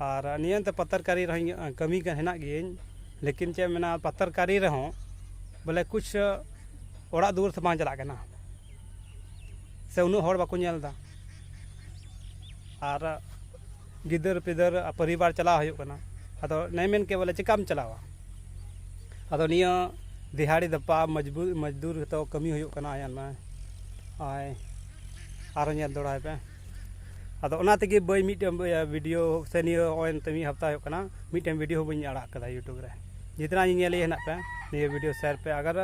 ᱟᱨ ᱱᱤᱭᱟᱹ ᱮᱱᱛᱮ ᱯᱟᱛᱟᱨᱠᱟᱨᱤ ᱨᱮᱦᱚᱸ ᱤᱧᱟᱹᱜ ᱠᱟᱹᱢᱤ ᱠᱟᱱ ᱦᱮᱱᱟᱜ ᱜᱤᱭᱟᱹᱧ ᱞᱮᱠᱤᱱ ᱪᱮᱫ ᱮᱢ ᱢᱮᱱᱟ ᱯᱟᱛᱟᱨᱠᱟᱨᱤ ᱨᱮᱦᱚᱸ ᱵᱚᱞᱮ ᱠᱩᱪ ᱚᱲᱟᱜ ᱫᱩᱣᱟᱹᱨ ᱛᱮ ᱵᱟᱝ ᱪᱟᱞᱟᱜ ᱠᱟᱱᱟ ᱥᱮ ᱩᱱᱟᱹᱜ ᱦᱚᱲ ᱵᱟᱠᱚ ᱧᱮᱞᱫᱟ ᱟᱨ ᱜᱤᱫᱟᱹᱨ ᱯᱤᱫᱟᱹᱨ ᱯᱚᱨᱤᱵᱟᱨ ᱪᱟᱞᱟᱣ ᱦᱩᱭᱩᱜ ᱠᱟᱱᱟ ᱟᱫᱚ ᱱᱮ ᱢᱮᱱ ᱠᱮᱫ ᱵᱚᱞᱮ ᱪᱤᱠᱟᱢ ᱪᱟᱞᱟᱣᱟ ᱟᱫᱚ ᱱᱤᱭᱟᱹ ᱫᱤᱦᱟᱲᱤ ᱫᱟᱯᱟ ᱢᱚᱡᱽᱵᱩᱨ ᱢᱚᱡᱽᱫᱩᱨ ᱦᱚᱛᱚ ᱠᱟᱹᱢᱤ ᱦᱩᱭᱩᱜ ᱠᱟᱱᱟ ᱟᱭᱟᱜ ᱱᱚᱜᱼᱚᱭ ᱟᱨ ᱧᱮᱞ ᱫᱚᱲᱦᱟᱭ ᱯᱮ ᱟᱫᱚ ᱚᱱᱟ ᱛᱮᱜᱮ ᱵᱟᱹᱭ ᱢᱤᱫᱴᱮᱱ ᱵᱷᱤᱰᱤᱭᱳ ᱥᱮ ᱱᱤᱭᱟᱹ ᱱᱚᱜᱼᱚᱭ ᱱᱤᱛᱚᱜ ᱢᱤᱫ ᱦᱟᱯᱛᱟ ᱦᱩᱭᱩᱜ ᱠᱟᱱᱟ ᱢᱤᱫᱴᱮᱱ ᱵᱷᱤᱰᱤᱭᱳ ᱦᱚᱸ ᱵᱟᱹᱧ ᱟᱲᱟᱜ ᱟᱠᱟᱫᱟ ᱤᱭᱩᱴᱩᱵᱽ ᱨᱮ ᱡᱤᱛᱱᱟ ᱧᱮᱧᱮᱞᱤᱭᱟᱹ ᱦᱮᱱᱟᱜ ᱯᱮ ᱱᱤᱭᱟᱹ ᱵᱷᱤᱰᱤᱭᱳ ᱥᱮᱭᱟᱨ ᱯᱮ ᱟᱜᱟᱨ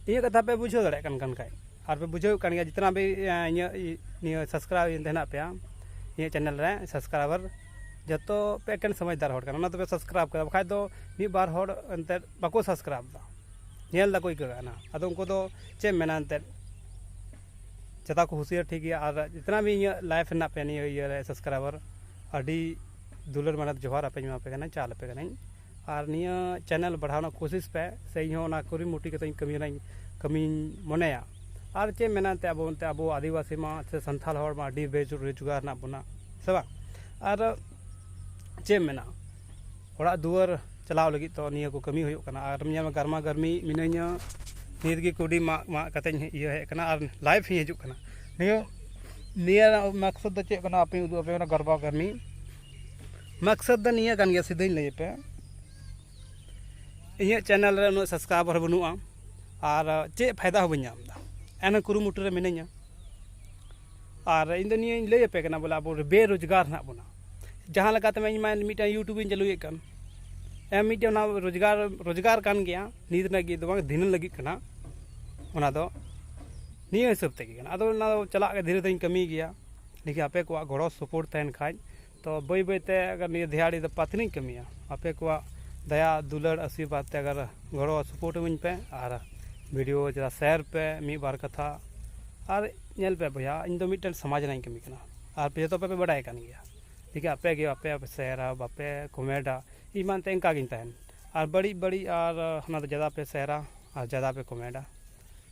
ᱤᱧᱟᱹᱜ ᱠᱟᱛᱷᱟ ᱯᱮ ᱵᱩᱡᱷᱟᱹᱣ ᱫᱟᱲᱮᱭᱟᱜ ᱠᱟᱱ ᱠᱟᱱ ᱠᱷᱟᱱ ᱟᱨ ᱯᱮ ᱵᱩᱡᱷᱟᱹᱣ ᱠᱟᱱ ᱜᱮᱭᱟ ᱡᱤᱛᱱᱟ ᱵᱷᱤ ᱤᱧᱟᱹᱜ ᱱᱤᱭᱟᱹ ᱥᱟᱵᱥᱠᱨᱟᱭᱤᱵᱽ ᱦᱮᱱᱟᱜ ᱯᱮᱭᱟ ᱤᱧᱟᱹᱜ ᱪᱮᱱᱮᱞ ᱨᱮ ᱥᱟᱵᱥᱠᱨᱟᱭᱵᱟᱨ ᱡᱚᱛᱚ ᱯᱮ ᱮᱠᱮᱱ ᱥᱚᱢᱟᱡᱽᱫᱟᱨ ᱦᱚᱲ ᱠᱟᱱᱟ ᱚᱱᱟ ᱛᱮᱯᱮ ᱥᱟᱵᱥᱠᱨᱟᱭᱤᱵᱽ ᱠᱟᱫᱟ ᱵᱟᱠᱷᱟᱡ ᱫᱚ ᱢᱤᱫ ᱵᱟᱨ ᱦᱚᱲ ᱮᱱᱛᱮᱫ ᱵᱟᱠᱚ ᱥᱟᱵᱥᱠᱨᱟᱭᱤᱵᱽ ᱮᱫᱟ ᱧᱮᱞ ᱫᱟᱠᱚ ᱟᱹᱭᱠᱟᱹᱜ ᱠᱟᱱᱟ ᱟᱫᱚ ᱩᱱᱠᱩ ᱫᱚ ᱪᱮᱫ ᱮᱢ ᱢᱮᱱᱟ ᱮᱱᱛᱮᱫ ᱡᱟᱛᱟ ᱠᱚ ᱦᱩᱥᱤᱭᱟᱨ ᱴᱷᱤᱠ ᱜᱮᱭᱟ ᱟᱨ ᱡᱤᱛᱱᱟ ᱵᱷᱤ ᱤᱧᱟᱹᱜ ᱞᱟᱭᱤᱯᱷ ᱨᱮᱱᱟᱜ ᱯᱮ ᱱᱤᱭᱟᱹ ᱤᱭᱟᱹ ᱨᱮ ᱥᱟᱵᱥᱠᱨᱟᱭᱵᱟᱨ ᱟᱹᱰᱤ ᱫᱩᱞᱟᱹᱲ ᱢᱟᱱᱮ ᱡᱚᱦᱟᱨ ᱟᱯᱮ ᱤᱧ ᱮᱢᱟ ᱯᱮ ᱠᱟᱱᱟ ᱪᱟᱞ ᱟᱯᱮ ᱠᱟᱹᱱᱟᱹᱧ ᱟᱨ ᱱᱤᱭᱟᱹ ᱪᱮᱱᱮᱞ ᱵᱟᱲᱦᱟᱣ ᱨᱮᱱᱟᱜ ᱠᱳᱥᱤᱥ ᱯᱮ ᱥᱮ ᱤᱧ ᱦᱚᱸ ᱚᱱᱟ ᱠᱩᱨᱩᱢᱩᱴᱩ ᱠᱟᱛᱮ ᱠᱟᱹᱢᱤ ᱨᱮᱱᱟᱜ ᱠᱟᱹᱢᱤᱧ ᱢᱚᱱᱮᱭᱟ ᱟᱨ ᱪᱮᱫ ᱢᱮᱱᱟ ᱮᱱᱛᱮ ᱟᱵᱚ ᱮᱱᱛᱮ ᱟᱵᱚ ᱟᱹᱫᱤᱵᱟᱹᱥᱤ ᱢᱟ ᱥᱮ ᱥᱟᱱᱛᱟᱲ ᱦᱚᱲ ᱢᱟ ᱟᱹᱰᱤ ᱵᱮ ᱨᱳᱡᱽᱜᱟᱨ ᱦᱮᱱᱟᱜ ᱵᱚᱱᱟ ᱥᱮ ᱵᱟᱝ ᱟᱨ ᱪᱮᱫ ᱮᱢ ᱢᱮᱱᱟ ᱚᱲᱟᱜ ᱫᱩᱣᱟᱹᱨ ᱪᱟᱞᱟᱣ ᱞᱟᱹᱜᱤᱫ ᱛᱚ ᱱᱤᱭᱟᱹ ᱠᱚ ᱠᱟᱹᱢᱤ ᱦᱩᱭᱩᱜ ᱠᱟᱱᱟ ᱟᱨ ᱧᱮᱞ ᱢᱮ ᱜᱚᱨᱢᱟ ᱜᱚᱨᱢᱤ ᱢᱤᱱᱟᱹᱧᱟ ᱱᱤᱛ ᱜᱮ ᱠᱩᱰᱤ ᱢᱟᱜ ᱢᱟᱜ ᱠᱟᱛᱮᱧ ᱤᱭᱟᱹ ᱦᱮᱡ ᱠᱟᱱᱟ ᱟᱨ ᱞᱟᱭᱤᱵᱷ ᱤᱧ ᱦᱤᱡᱩᱜ ᱠᱟᱱᱟ ᱱᱤᱭᱟᱹ ᱱᱤᱭᱟᱹ ᱢᱟᱠᱥᱚᱛ ᱫᱚ ᱪᱮᱫ ᱠᱟᱱᱟ ᱟᱯᱮᱧ ᱩᱫᱩᱜ ᱟᱯᱮ ᱠᱟᱱᱟ ᱜᱚᱨᱵᱟ ᱜᱚᱨᱢᱤ ᱢᱟᱠᱥᱚᱛ ᱫᱚ ᱱᱤᱭᱟᱹ ᱠᱟᱱ ᱜᱮᱭᱟ ᱥᱤᱫᱷᱟᱹᱧ ᱞᱟᱹᱭ ᱟᱯᱮᱭᱟ ᱤᱧᱟᱹᱜ ᱪᱮᱱᱮᱞ ᱨᱮ ᱩᱱᱟᱹᱜ ᱥᱟᱵᱥᱠᱨᱟᱭᱵᱟᱨ ᱦᱚᱸ ᱵᱟᱹᱱᱩᱜᱼᱟ ᱟᱨ ᱪᱮᱫ ᱯᱷᱟᱭᱫᱟ ᱦᱚᱸ ᱵᱟᱹᱧ ᱧᱟᱢᱫᱟ ᱮᱱᱦᱚᱸ ᱠᱩᱨᱩᱢᱩᱴᱩ ᱨᱮ ᱢᱤᱱᱟᱹᱧᱟ ᱟᱨ ᱤᱧ ᱫᱚ ᱱᱤᱭᱟᱹᱧ ᱞᱟᱹᱭ ᱟᱯᱮ ᱠᱟᱱᱟ ᱵᱚᱞᱮ ᱟᱵᱚ ᱵᱮᱨᱳᱡᱽᱜᱟᱨ ᱦᱮᱱᱟᱜ ᱵᱚᱱᱟ ᱡᱟᱦᱟᱸ ᱞᱮᱠᱟᱛᱮ ᱤᱧ ᱢᱟ ᱢᱤᱫᱴᱟᱝ ᱤᱭᱩᱴᱩᱵᱽ ᱤᱧ ᱪᱟᱹᱞᱩᱭᱮᱫ ᱠᱟᱱ ᱮᱢ ᱢᱤᱫᱴᱮᱱ ᱚᱱᱟ ᱨᱳᱡᱽᱜᱟᱨ ᱨᱳᱡᱽᱜᱟᱨ ᱠᱟᱱ ᱜᱮᱭᱟ ᱱᱤᱛ ᱞᱟᱹᱜᱤᱫ ᱫᱚ ᱵᱟᱝ ᱫᱷᱤᱱᱟᱹᱱ ᱞᱟᱹᱜᱤᱫ ᱠᱟᱱᱟ ᱚᱱᱟ ᱫᱚ ᱱᱤᱭᱟᱹ ᱦᱤᱥᱟᱹᱵ ᱛᱮᱜᱮ ᱠᱟᱱᱟ ᱟᱫᱚ ᱚᱱᱟ ᱫᱚ ᱪᱟᱞᱟᱜ ᱜᱮ ᱫᱷᱤᱨᱮ ᱫᱷᱤᱨᱮᱧ ᱠᱟᱹᱢᱤ ᱜᱮᱭᱟ ᱞᱮᱠᱤᱱ ᱟᱯᱮ ᱠᱚᱣᱟᱜ ᱜᱚᱲᱚ ᱥᱚᱯᱚᱦᱚᱫ ᱛᱟᱦᱮᱱ ᱠᱷᱟᱱ ᱛᱚ ᱵᱟᱹᱭ ᱵᱟᱹᱭ ᱛᱮ ᱟᱜᱟᱨ ᱱᱤᱭᱟᱹ ᱫᱷᱮᱭᱟᱲᱤ ᱫᱚ ᱯᱟᱛᱱᱤᱧ ᱠᱟᱹᱢᱤᱭᱟ ᱟᱯᱮ ᱠᱚᱣᱟᱜ ᱫᱟᱭᱟ ᱫᱩᱞᱟᱹᱲ ᱟᱥᱤᱨᱵᱟᱫᱽ ᱛᱮ ᱟᱜᱟᱨ ᱜᱚᱲᱚ ᱥᱚᱯᱚᱨᱴ ᱤᱢᱟᱹᱧ ᱯᱮ ᱟᱨ ᱵᱷᱤᱰᱤᱭᱳ ᱡᱟ ᱥᱮᱭᱟᱨ ᱯᱮ ᱢᱤᱫ ᱵᱟᱨ ᱠᱟᱛᱷᱟ ᱟᱨ ᱧᱮᱞ ᱯᱮ ᱵᱚᱭᱦᱟ ᱤᱧ ᱫᱚ ᱢᱤᱫᱴᱮᱱ ᱥᱚᱢᱟᱡᱽ ᱨᱮᱱᱟᱜ ᱤᱧ ᱠᱟᱹᱢᱤ ᱠᱟᱱᱟ ᱟᱨ ᱟᱯᱮ ᱡᱚᱛᱚ ᱯᱮ ᱵᱟᱰᱟᱭ ᱠᱟᱱ ᱜᱮᱭᱟ ᱞᱮᱠᱤᱱ ᱟᱯᱮ ᱜᱮ ᱟᱯᱮ ᱵᱟᱯᱮ ᱥᱮᱭᱟᱨᱟ ᱵᱟᱯᱮ ᱠᱚᱢᱮᱱᱴᱼᱟ ᱤᱧ ᱢᱟ ᱮᱱᱛᱮᱫ ᱤᱱᱠᱟ ᱜᱤᱧ ᱛᱟᱦᱮᱱ ᱟᱨ ᱵᱟᱹᱲᱤᱡ ᱵᱟᱹᱲᱤᱡ ᱟᱨ ᱚᱱᱟ ᱫᱚ ᱡᱟᱫᱟ ᱯᱮ ᱥᱮᱭᱟᱨᱟ ᱟᱨ ᱡᱟᱫᱟ ᱯᱮ ᱠᱚᱢᱮᱱᱴᱼᱟ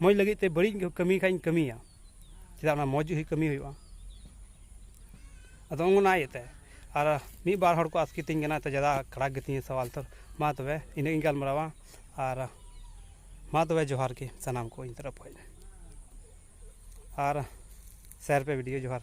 ᱢᱚᱡᱽ ᱞᱟᱹᱜᱤᱫ ᱛᱮ ᱵᱟᱹᱲᱤᱡ ᱠᱟᱹᱢᱤ ᱠᱷᱟᱱ ᱤᱧ ᱠᱟᱹᱢᱤᱭᱟ ᱪᱮᱫᱟᱜ ᱚᱱᱟ ᱢᱚᱡᱽ ᱠᱟᱹᱢᱤ ᱦᱩᱭᱩᱜᱼᱟ ᱟᱫᱚ ᱚᱱᱟ ᱤᱭᱟᱹᱛᱮ ᱟᱨ ᱢᱤᱫ ᱵᱟᱨ ᱦᱚᱲ ᱠᱚ ᱟᱥᱠᱮᱛᱤᱧ ᱠᱟᱱᱟ ᱛᱚ ᱡᱟᱫᱟ ᱠᱷᱟᱨᱟᱯ ᱜᱮᱛᱤᱧᱟ ᱥᱟᱶᱟᱞ ᱛᱚ ᱢᱟ ᱛᱚᱵᱮ ᱤᱱᱟᱹᱜ ᱜᱤᱧ ᱜᱟᱞᱢᱟᱨᱟᱣᱟ ᱟᱨ ᱢᱟ ᱛᱚᱵᱮ ᱡᱚᱦᱟᱨ ᱜᱮ ᱥᱟᱱᱟᱢ ᱠᱚ ᱤᱧ ᱛᱚᱨᱚᱯᱷ ᱠᱷᱚᱱ ᱟᱨ ᱥᱮᱭᱟᱨ ᱯᱮ ᱵᱷᱤᱰᱤᱭᱳ ᱡᱚᱦᱟᱨ